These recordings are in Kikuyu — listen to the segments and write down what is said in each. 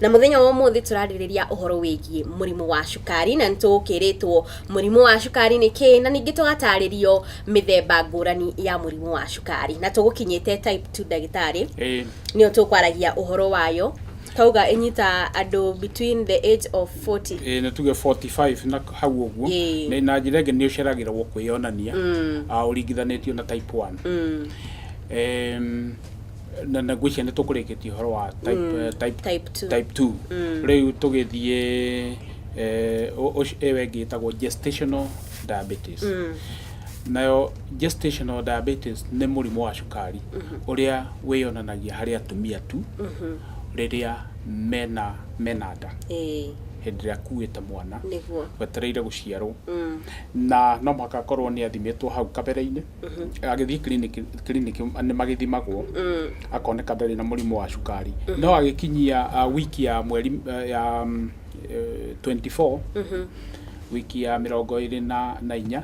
Na mũthenya wa ũmũthĩ tũrarĩrĩria ũhoro wĩgiĩ mũrimũ wa cukari na nĩtũkĩrĩtwo mũrimũ wa cukari nĩ kĩĩ na ningĩ tũgatarĩrio mĩthemba ngũrani ya mũrimũ wa cukari na tũgũkinyĩte type 2 ndagĩtarĩ Ĩĩ. nĩyo tũkwaragia ũhoro wayo twauga ĩnyita andũ between the age of 40 Ĩĩ, nĩ tuge 45 na hau ũguo Ĩĩ. Nĩ- na njĩra ĩngĩ nĩ ũceragĩragwo kwĩyonania ah, ũringithanĩtio na type 1 Em, na na ngwĩciria nĩ tũkũrĩkĩtie ũhoro wa type, Mm, eh, type, type two. type two Mm. rĩu tũgĩthiĩ eh, ũ- ũcio- ĩyo ĩngĩ ĩtagwo gestational diabetes Mm. nayo gestational diabetes nĩ mũrimũ wa cukari ũrĩa wĩyonanagia harĩ atumia tu Mhm. rĩrĩa mena mena nda Ĩĩ, hĩndĩ ĩrĩa akuĩte mwana nĩguo wetereire gũciarwo Mm. na no mũhaka akorwo nĩ athimĩtwo hau kabere-inĩ agĩthiĩ kiriniki kiriniki nĩ magĩthimagwo akoneka ndarĩ na mũrimũ wa cukari no agĩkinyia ah, wiki ya mweri eh, ya mm, eh, 24 wiki ya mĩrongo ĩrĩ na na inya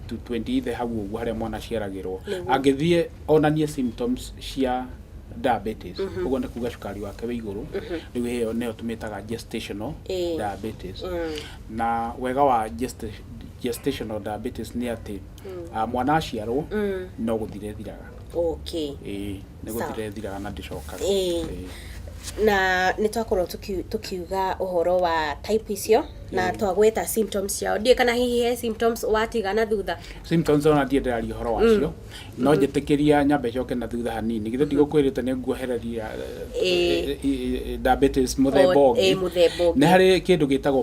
to 28 hau ũguo harĩa mwana aciaragĩrwo angĩthiĩ onanie symptoms cia diabetes ũguo nĩ kuga cukari wake wĩ igũrũ rĩu ĩyo nĩyo tũmĩtaga gestational Ĩĩ. diabetes na wega wa gesta- gestational diabetes nĩ atĩ Ah, mwana aciarwo no gũthira ĩthiraga okay Ĩĩ, nĩ Sawa. gũthira ĩthiraga na ndĩcokaga Ĩĩ. Ĩĩ. na nä twakorwo tå kiuga å horo wa type icio na twagweta symptoms ciao ndiä kana hihi he symptoms watiga na thutha symptoms ona ndiä ndäraria å horo wacio no njätä kä ria nyambe coke na thutha hanini githä ndigåkwä rä te nä nguohereria Ĩĩ. diabetes må themba Ĩĩ, å ngä mũthemba ũngĩ. nä harä kä ndå gä tagwo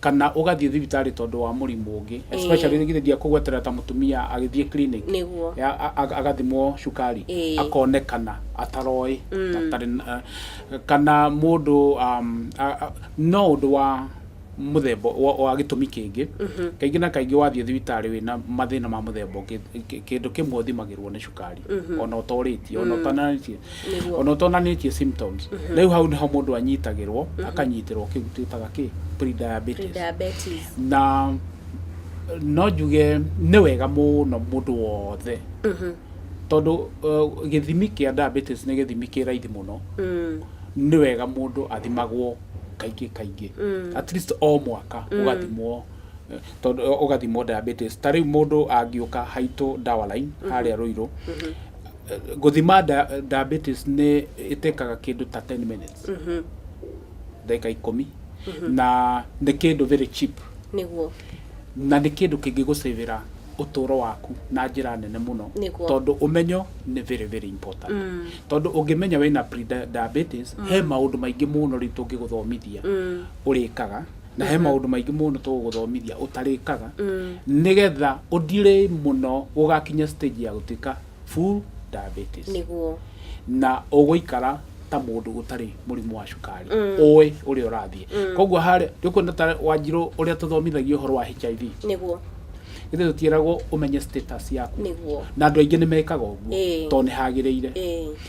kana ũgathiĩ thibitarĩ tondũ wa mũrimũ ũngĩ Ĩĩ. especially githĩ ndiakũgweterera ta mũtumia agĩthiĩ clinic Nĩguo. ya- a- a- agathimwo cukari Ĩĩ. akonekana ataroĩ na atarĩ na- kana mũndũ um, a- a- no ũndũ wa mũthemba wa wa gĩtũmi kĩngĩ kaingĩ na kaingĩ wathiĩ thibitarĩ wĩna mathĩna ma mũthemba ũngĩ kĩ- kĩndũ kĩmwe ũthimagĩrwo nĩ cukari ona ũtorĩtie ona ũtananĩtie Nĩguo. Ona ũtonanĩtie symptoms. Rĩu hau nĩho mũndũ anyitagĩrwo, akanyitĩrwo kĩu twĩtaga kĩ? Pre-diabetes. Pre-diabetes. Na no njuge nĩ wega mũno mũndũ wothe tondũ uh, gĩthimi kĩa diabetes nĩ gĩthimi kĩ raithi mũno nĩ wega mũndũ athimagwo kaingĩ kaingĩ at least o mwaka ũgathimwo eh, tondũ eh, ũgathimwo diabetes ta rĩu mũndũ angĩũka haitũ dawa line harĩa rũirũ gũthima diabetes nĩ ĩtekaga kĩndũ ta 10 minutes ndagĩka ikũmi na nĩ kĩndũ very cheap nĩguo na nĩ kĩndũ kĩngĩgũcĩvĩra ũtũũro waku na njĩra nene mũno Nĩguo. tondũ ũmenyo nĩ very very important tondũ ũngĩmenya wĩna pre-diabetes he maũndũ maingĩ mũno rĩu tũngĩgũthomithia ũrĩkaga na he maũndũ maingĩ mũno tũgũgũthomithia ũtarĩkaga nĩgetha ũthire mũno gũgakinya stage ya gũtuĩka full diabetes nĩguo na ũgũikara ta mũndũ ũtarĩ mũrimũ wa cukari ũĩ ũrĩa ũrathiĩ koguo harĩ nĩũkuona ta wanjirũ ũrĩa tũthomithagio ũhoro wa hiv nĩguo ithe tũtiĩragwo ũmenye status yaku nĩguo na andũ aingĩ nĩ mekaga ũguo Ĩĩ. tondũ nĩ hagĩrĩire Ĩĩ.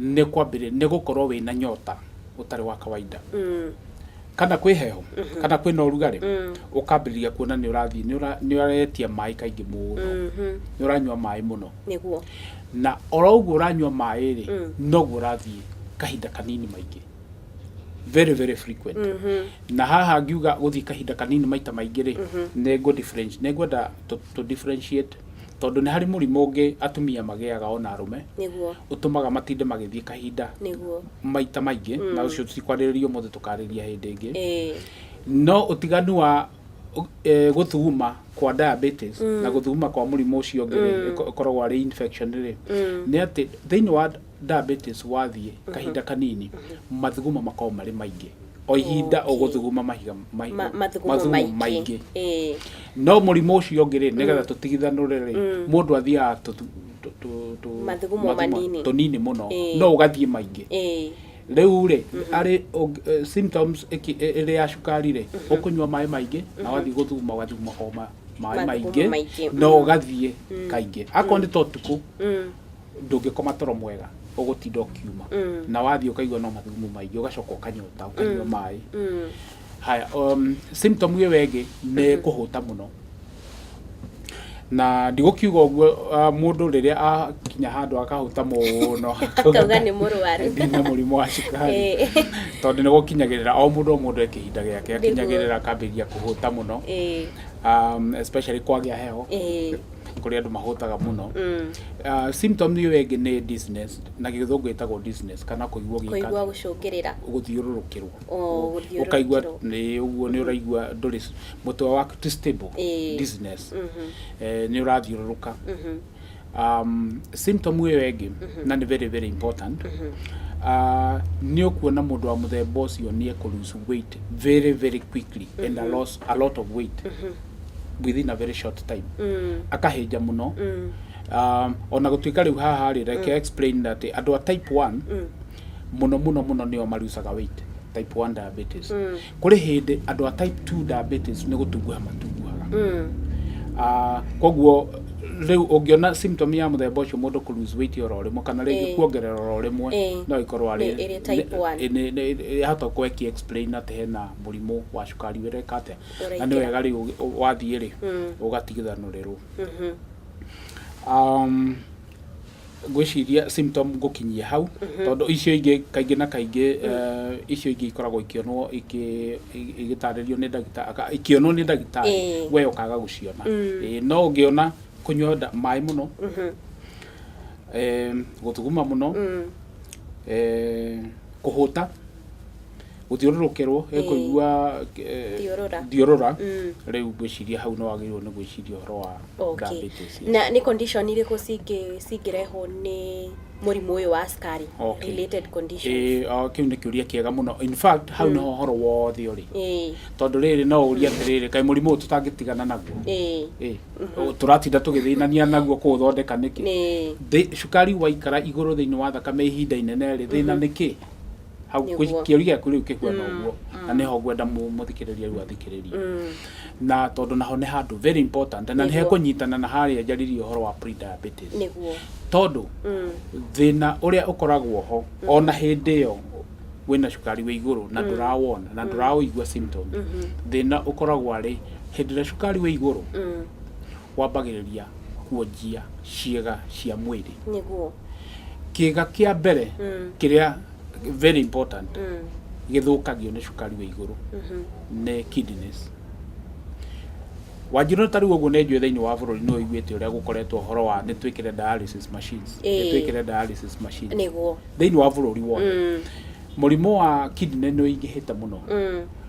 Nĩ kwambĩrĩria nĩ gũkorwo wĩ na nyota ũtarĩ wa kawaida, kana kwĩ heho, kana kwĩna ũrugarĩ, ũkambĩrĩria kuona nĩ ũrathiĩ nĩ ũra nĩ ũretia maĩ kaingĩ mũno, nĩ ũranyua maĩ mũno, Nĩguo. na oro ũguo ũranyua maĩ rĩ, noguo ũrathiĩ kahinda kanini maingĩ, very very frequent, na haha ngiuga gũthiĩ kahinda kanini maita maingĩ rĩ, nĩ ngũ different nĩ ngwenda tũ tũ differentiate. Tondũ nĩ harĩ mũrimũ ũngĩ atumia magĩaga ona arũme, Nĩguo. ũtũmaga matinde magĩthiĩ kahinda Nĩguo. maita maingĩ, na ũcio tũtikwarĩrĩria ũmũthĩ tũkarĩrĩria hĩndĩ ĩngĩ. Ĩĩ. No ũtiganu wa eh, gũthuguma kwa diabetes na gũthuguma kwa mũrimũ ũcio ũngĩ rĩ, ĩko- ĩkoragwo arĩ infection rĩ, nĩ atĩ thĩinĩ wa Diabetes wathiĩ kahinda kanini mathugumo makoragwo marĩ maingĩ o ihinda Okay. ũgũthuguma mahiga ma- Ma- mathugumo mathugumo maingĩ maingĩ Ĩĩ. no mũrimũ ũcio ũngĩ rĩ nĩgetha tũtigithanũre rĩ mũndũ athiaga tũthu- tũ- tũ- tũ- Mathugumo mathugumo manini. tũnini mũno Ĩĩ. no ũgathiĩ maingĩ Ĩĩ. rĩu rĩ arĩ ũng- eh, symptoms ĩki- ĩ- ĩrĩ ya cukari rĩ ũkũnyua maĩ maingĩ na wathiĩ gũthuguma ũgathuguma o ma- maĩ Mathugumo maingĩ maingĩ, na mm. ũgathiĩ kaingĩ akorwo nĩ ta ũtukũ Mm. ndũngĩkoma toro mwega ũgũtinda ũkiuma na wathiĩ ũkaigua no mathugumo maingĩ ũgacoka ũkanyota ũkanyua maĩ haya um, symptom ĩyo ĩngĩ nĩ kũhũta mũno na ndigũkiuga ũguo ah, mũndũ rĩrĩa akinya handũ akahũta mũno Akauga nĩ mũrwaru. ndina mũrimũ wa cukari Eh. tondũ nĩ gũkinyagĩrĩra o mũndũ o mũndũ e kĩhinda gĩake Nĩguo. akinyagĩrĩra akambĩrĩria kũhũta mũno Ĩĩ. um, especially kwagĩa heho Ĩĩ. kũrĩ andũ mahũtaga mũno Ah, symptom ĩyo ĩngĩ nĩ dizziness na gĩthũngũ ĩtagwo dizziness kana kũigua gĩkari kũigua gũcũngĩrĩra gũthiũrũrũkĩrwo Oh, gũthiũrũrũkĩrwo. ũkaigua nĩ ũguo nĩ ũraigua ndũrĩ mũtwe waku ti stable Ĩĩ. dizziness Eh, nĩ ũrathiũrũrũka um, symptom ĩyo ĩngĩ na nĩ very very important Ah, nĩ ũkuona mũndũ wa mũthemba ũcio nĩ ekũrucu weight very very quickly and a loss a lot of weight within a very short time akahĩnja mũno um, ona gũtuĩka rĩu haha rĩ reke explain that andũ a type 1 mũno mũno mũno nĩo marucaga weight type 1 diabetes kũrĩ hĩndĩ andũ a type 2 diabetes nĩ gũtunguha matunguhaga Ah, koguo rĩu ũngĩona symptom ya mũthemba ũcio mũndũ kũ lose weight oro rĩmwe kana rĩngĩ Eh. kuongerera oro rĩmwe Eh. no ĩkorwo arĩ Nĩ- ĩrĩ type nĩ- one. nĩ- nĩ- yahota kweki explain atĩ hena mũrimũ wa cukari wĩra ĩka atĩa na nĩ wega rĩu wathiĩ rĩ ũgatigithanũrĩrwo um, ngwĩciria symptom ngũkinyie hau tondũ icio ingĩ kaingĩ na kaingĩ eh, icio ingĩ ikoragwo ikĩonwo ikĩ- i- igĩtarĩrio nĩ ndagĩtarĩ aka- ikĩonwo nĩ ndagĩtarĩ Ĩĩ. we ũkaga gũciona Ĩĩ, no ũngĩona kũnyua nda- maĩ mũno em, gũthuguma mũno em, kũhũta gũthiũrũrũkĩrwo Ĩĩ. ekũigua eh, Thiũrũra. thiũrũra Mm. rĩu ngwĩciria hau no wagĩrĩirwo nĩ gwĩciria ũhoro wa Okay. diabetes, yes. na nĩ condition irĩkũ cingĩ- cingĩrehwo nĩ mũrimũ ũyũ wa cukari Okay. related conditions Ĩĩ, ah, kĩu nĩ kĩũria kĩega mũno in fact hau nĩho ũhoro wothe ũrĩ Ĩĩ, tondũ rĩrĩ no ũria atĩrĩrĩ kaĩ mũrimũ ũyũ tũtangĩtigana naguo ĩĩ, Ĩĩ, tũratinda tũgĩthĩnania naguo kũũthondeka nĩkĩ ĩĩ. Thĩ- cukari waikara igũrũ thĩinĩ wa thakame ihinda inene rĩ thĩna nĩ kĩ hau Nĩguo. kĩ- kĩũri gĩaku rĩu kĩhuana Mm, ũguo mm. na nĩho ngwenda mũ- mũthikĩrĩria rĩu athikĩrĩrie Mm. na tondũ naho nĩ handũ very important na Nĩguo. nĩhekũnyitana na harĩa njaririe ũhoro wa pre-diabetes nĩguo tondũ Mm. thĩna ũrĩa ũkoragwo ho ona hĩndĩ ĩyo wĩna cukari wĩ igũrũ na ndũrawona na ndũraũigua symptom thĩna ũkoragwo arĩ hĩndĩ ĩrĩa cukari wĩ igũrũ Mm. wambagĩrĩria kuonjia ciĩga cia mwĩrĩ. Nĩguo. Kĩĩga kĩa mbere kĩrĩa very important gĩthũkagio nĩ cukari wĩ igũrũ nĩ kidneys. Wanjirũ ta rĩu ũguo nĩ njũĩ thĩinĩ wa bũrũri nĩ ũiguĩte ũrĩa gũkoretwo ũhoro wa nĩ twĩkĩre dialysis machines, nĩ Ĩĩ. twĩkĩre dialysis machines Nĩguo. thĩinĩ wa bũrũri wothe. Mũrimũ wa kidney nĩ ũingĩhĩte mũno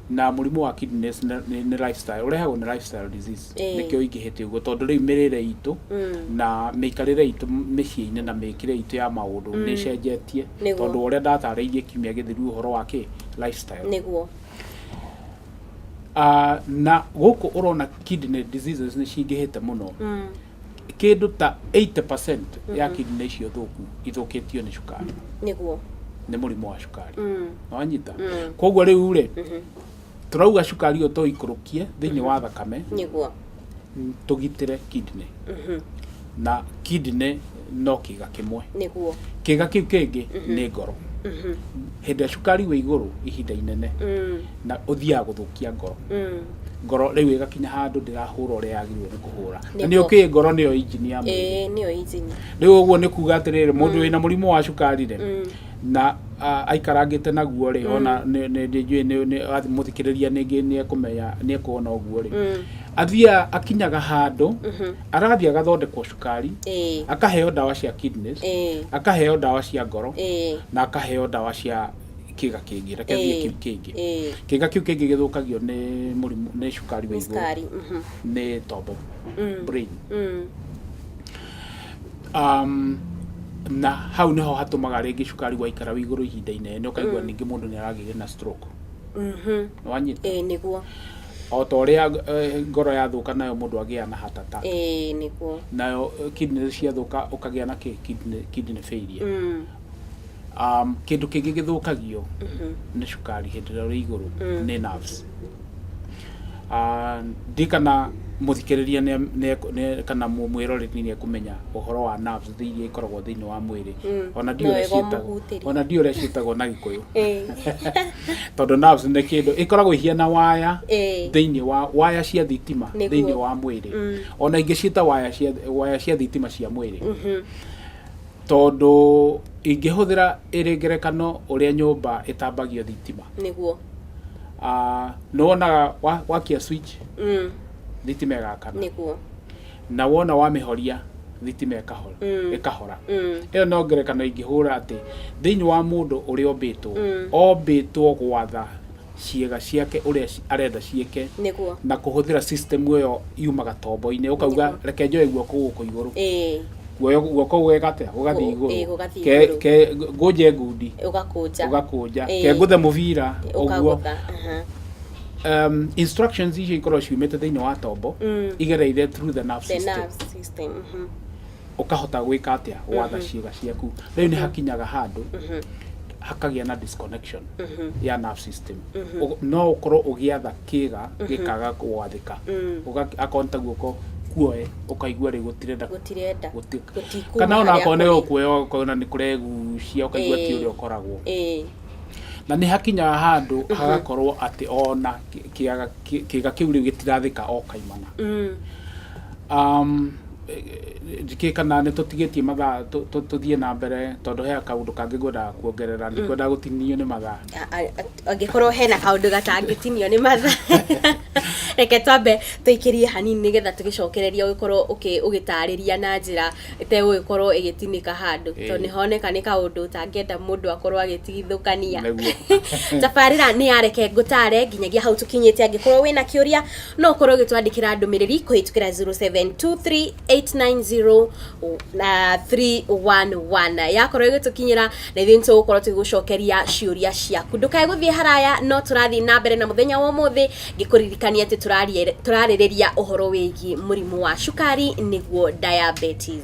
na mũrimũ wa kidneys nĩ nĩ lifestyle, ũrehagwo nĩ lifestyle disease. nĩkĩo ingĩhĩte ũguo tondũ rĩu mĩrĩre itũ na mĩikarĩre itũ mĩciĩ-inĩ na mĩkĩre itũ ya maũndũ nĩ ĩcenjetie tondũ ũrĩa ndatarĩirie kiumia gĩthiru ũhoro wa kĩ lifestyle nĩguo na gũkũ ũrona kidney diseases nĩ cingĩhĩte mũno kĩndũ ta 80% ya kidney icio thũku ithũkĩtio nĩ cukari nĩguo nĩ mũrimũ wa cukari wanyita koguo rĩu rĩ Tũrauga cukari ũyũ tũikũrũkie thĩinĩ wa thakame Nĩguo. n- tũgitĩre kidney na kidney no kĩga kĩmwe Nĩguo. kĩga kĩu kĩngĩ nĩ ngoro hĩndĩ ĩrĩa cukari wĩ igũrũ ihinda inene na ũthiaga gũthũkia ngoro ngoro rĩu ĩgakinya handũ ndĩrahũra ũrĩa yagĩrĩirwo nĩ kũhũra na nĩ Nĩguo. ũkĩĩ ngoro nĩyo injini ya mwĩrĩ Ĩĩ nĩyo injini. rĩu ũguo nĩ kuga atĩrĩrĩ mũndũ wĩna mũrimũ wa cukari rĩ na aikarangĩte naguo rĩ mm. ona njũĩ mũthikĩrĩria nĩngĩ nĩekũmenya nĩekuona ũguo rĩ mm. athiaga akinyaga handũ mm-hmm. arathiĩ agathondekwo cukari akaheo ndawa cia kidneys akaheo ndawa cia ngoro na akaheo ndawa cia kiga kingi reke thiä kiu kingi kiga kiu kingi githukagio ni murimu ni cukari wa iguru ni tombo mm. brain mm. Um, na hau niho hatumaga ringi cukari waikara wi iguru ihinda inene ukaigua ningi mundu ni aragire na stroke Mhm. wanyita Ĩĩ nĩguo. o ta uria ngoro yathuka nayo mundu agia na heart attack Ĩĩ nĩguo. nayo eh, kidney ciathuka ukagia na ki- kidney kidney failure Mm. um, kĩndũ kĩngĩ gĩthũkagio nĩ cukari hĩndĩ ĩrĩa ũrĩ igũrũ nĩ nerves Ah, ndi kana mũthikĩrĩria nĩ- nĩ- nĩ- kana mũ- mwĩroreri nĩ ekũmenya ũhoro wa nerves thĩ iria ikoragwo thĩinĩ wa mwĩrĩ ona ndiũ No ũrĩa wega ciĩtagwo- ũmũhutĩrie. ona ndiũ ũrĩa ciĩtagwo na gĩkũyũ Eh, tondũ nerves nĩ kĩndũ ĩkoragwo ihiana waya Eh. thĩinĩ wa waya cia thitima Nĩguo. thĩinĩ wa mwĩrĩ ona ingĩ ciĩta waya cia waya cia thitima cia mwĩrĩ Tondũ ingĩhũthĩra ĩrĩ ngerekano ũrĩa nyũmba ĩtambagio thitima. Nĩguo. Ah, nĩ wonaga wa- wakia switch Mm. thitima ĩgakana. Nĩguo. Na wona wamĩhoria thitima ĩkahora. Mm. Ĩkahora. Mm. ĩyo no ngerekano ingĩhũra atĩ thĩinĩ wa mũndũ ũrĩa ombĩtwo Mm. ombĩtwo gwatha ciĩga ciake ũrĩa ci- arenda ciĩke nĩguo na kũhũthĩra system ĩyo yumaga tombo-inĩ ũkauga Nĩguo. reke njoe guoko gũkũ igũrũ ĩĩ guoyo guoko gũgekatĩa gũgathiĩ Gũ- ĩĩ, igũrũ gũgathiĩ Ke- igũrũ. ke- ngũnje ngundi ũgakũnja ũgakũnja Ĩĩ. ke ngũthe mũbira ũguo ũkagũtha aha. um, instructions icio ikorwo ciumĩte thĩinĩ wa tombo Mm. igereire through the nerve the system nerve system mhm. ũkahota gwĩka atĩa gwatha ciĩga ciaku rĩu nĩ hakinyaga handũ hakagĩa na disconnection ya nerve system Ũg- no ũkorwo ũgĩatha kĩga gĩkaga gwathĩka Ũga- akorwo nĩ ta guoko kuoe ũkaigua rĩu gũtirenda gũtirenda gũti- gũtikuma kana ona harĩa akorwo nĩ kũrĩ. gũkuoya ũkona nĩ kũregucia ũkaigua ti Ĩĩ. ũrĩa ũkoragwo Ĩĩ. na nĩ hakinyaga handũ hagakorwo atĩ ona kĩ- kĩaga- kĩ- kĩga kĩu rĩu gĩtirathĩka o kaimana um, njĩkĩĩ kana nĩ tũtigĩtie mathaa tũ- tũ- tũthiĩ na mbere tondũ he kaũndũ kangĩ ngwendaga kuongerera ndikwendaga gũtinio nĩ mathaa A- a- a- angĩkorwo hena kaũndũ gatangĩtinio nĩ matha reke twambe tũikĩrie hanini nĩgetha tũgĩcokereria ũgĩkorwo ũkĩ- ũgĩtarĩria na njĩra ĩtegũgĩkorwo ĩgĩtinĩka handũ Ĩĩ. tondũ nĩhoneka nĩ kaũndũ ũtangĩenda mũndũ akorwo agĩtigithũkania Nĩguo. tabarĩra nĩ yareke ngũtare nginyagia hau tũkinyĩte angĩkorwo wĩna kĩũria no ũkorwo ũgĩtwandĩkĩra ndũmĩrĩri kũhĩtũkĩra 0723890311 yakorwo ĩgĩtũkinyĩra na ithuĩ nĩtũgũkorwo tũgĩgũcokeria ciũria ciaku ndũkae gũthiĩ haraya no tũrathiĩ na mbere na mũthenya wa ũmũthĩ ngĩkũririkania atĩ tũrarie- tũrarĩrĩria ũhoro wĩgiĩ mũrimũ wa cukari nĩguo diabetes